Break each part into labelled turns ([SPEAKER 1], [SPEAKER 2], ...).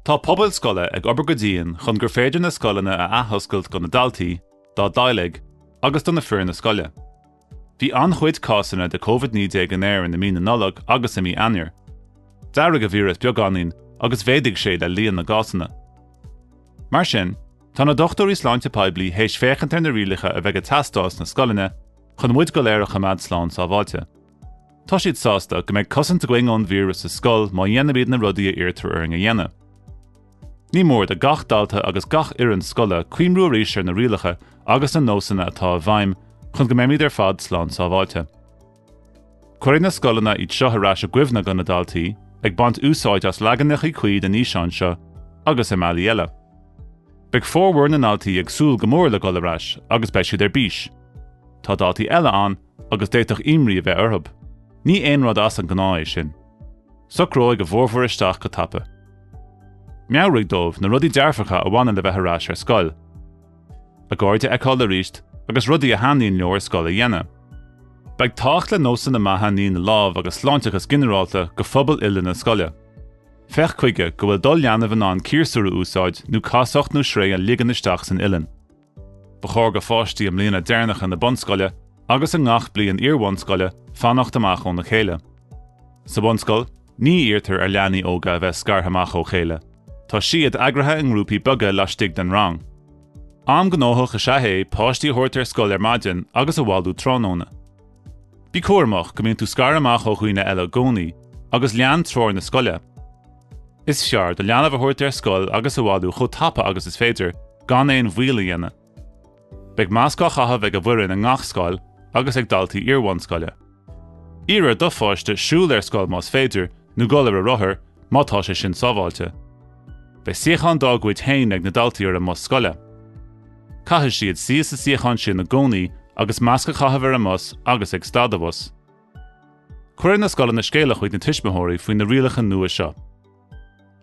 [SPEAKER 1] Tá pobail scoile ag obair go dian chun gur féidir na scoileanna a athoscailt do na daltaí, dá dteaghlaigh agus do na fir na scoile. Bhí an-chuid cásanna de Covid naoi déag in Éirinn i mí na Nollag agus i mí Eanáir. D'éirigh a víreas beagáinín agus mhéadaigh sé le líon na gcásanna. Mar sin, tá na dochtúirí sláinte poiblí théis féachaint ar na rialacha a bheidh ag teastáil sna scoileanna chun muid go léir a choimeád slán sábháilte. Tá siad sásta go mbeidh cosaint againn ón víreas sa scoil má dhéanaimid na rudaí a iarrtar orainn a dhéanamh. Ní mór do gach dalta agus gach fhoireann scoile cuimhniú arís ar na rialacha agus na nósanna atá i bhfeidhm chun go mbeimid ar fad slán sábháilte. Cuirfidh na scoileanna iad seo ar ais i gcuimhne do na daltaí, ag baint úsáid as leaganachaí cuí den fhíseán seo agus i mbealaí eile. Beidh formhór na ndaltaí ag súil go mór le dul ar ais agus beidh siad ar bís. Tá daltaí eile ann agus d'fhéadfadh imní a bheith orthu. Ní aon rud as an ngnáth é sin. Socróidh a bhformhór isteach go tapa. Meabhraigh dóibh na rudaí dearfacha a bhaineann le bheith ar ais ar scoil. A gcairde a fheiceáil arís agus rudaí a thaitníonn leo ar scoil a dhéanamh. Beidh tábhacht le nósanna maithe ní na lámh agus sláinteachas ginearálta do phobal uile na scoile. Féach chuige go bhfuil do leanbh in ann ciarsúr a úsáid nó casacht nó sraoth a ligean isteach san uilleann. Ba chóir do pháistí i mblianta deireanacha na bunscoile agus i ngach bliain iarbhunscoile fanacht amach óna chéile. Sa bhunscoil, ní iarrtar ar leanaí óga a bheith scartha amach ó chéile. Tá siad eagraithe i ngrúpaí beaga laistigh den rang. Am gnóthach is ea é páistí a thabhairt ar scoil ar maidin agus a bhailiú tráthnóna. Bí cúramach go mbíonn tú scartha amach ó dhaoine eile i gcónaí agus lean treoir na scoile. Is fearr do leanbh a thabhairt ar scoil agus a bhailiú chomh tapa agus is féidir, gan aon mhoill a dhéanamh. Beidh masc á chaitheamh ag an bhfoireann i ngach scoil agus ag daltaí iarbhunscoile. Iarr ar do pháiste siúl ar scoil más féidir nó dul ar a rothar, má tá sé sin sábháilte. Beidh suíochán dá gcuid féin ag na daltaí ar an mbus scoile. Caithfidh siad suí sa suíochán sin i gcónaí agus masc a chaitheamh ar an mbus agus ag stad an bhus. Cuirfidh na scoileanna scéala chuig na tuismitheoirí faoi na rialacha nua seo.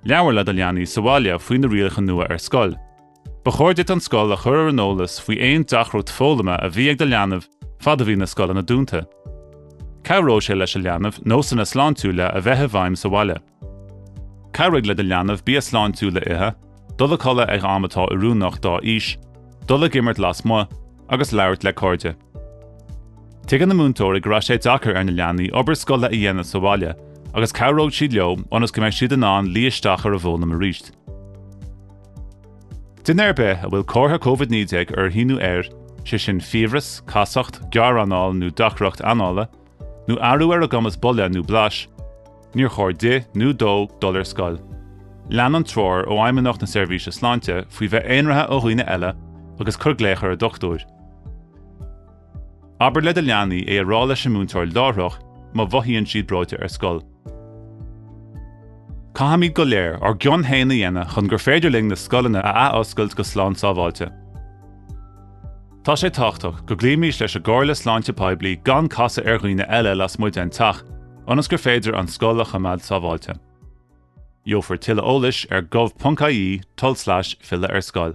[SPEAKER 1] Labhair le do leanaí sa bhaile faoi na rialacha nua ar scoil. Ba chóir duit an scoil a chur ar an eolas faoi aon deacracht foghlama a bhí ag do leanbh fad a bhí na scoileanna dúnta. Cabhróidh sé leis an leanbh nósanna sláintiúla a bheith i bhfeidhm sa bhaile. Cabhraigh le do leanbh bia sláintiúil a ithe, dul a chodladh ag am atá oiriúnach dá aois, dul ag imirt lasmuigh agus labhairt le cairde. Tuigeann na múinteoirí go raibh sé deacair ar na leanaí obair scoile a dhéanamh sa bhaile agus cabhróidh siad leo ionas go mbeidh siad in ann luí isteach ar an bhfoghlaim arís. Duine ar bith a bhfuil comhartha COVID-19 uirthi nó air, sé sin fiabhras, casacht, gearranáil nó deacracht anála, nó athrú ar a gcumas bolaidh nó blais, níor chóir di nó dó dul ar scoil. Lean an treoir ó Fheidhmeannacht na Seirbhíse Sláinte faoi bheith aonraithe ó dhaoine eile agus cuir glaoch ar a dochtúir. Abair le do leanaí é a rá leis an múinteoir láithreach má mhothaíonn siad breoite ar scoil. Caithfimid go léir ár gcion féin a dhéanamh chun gur féidir linn na scoileanna a athoscailt go slán sábháilte. Tá sé tábhachtach go gcloímis leis an gcomhairle sláinte poiblí gan casadh ar dhaoine eile lasmuigh den teach, ionas gur féidir an scoil a choimeád sábháilte. Gheofar tuilleadh eolais ar gov.ie slash filleadh ar scoil.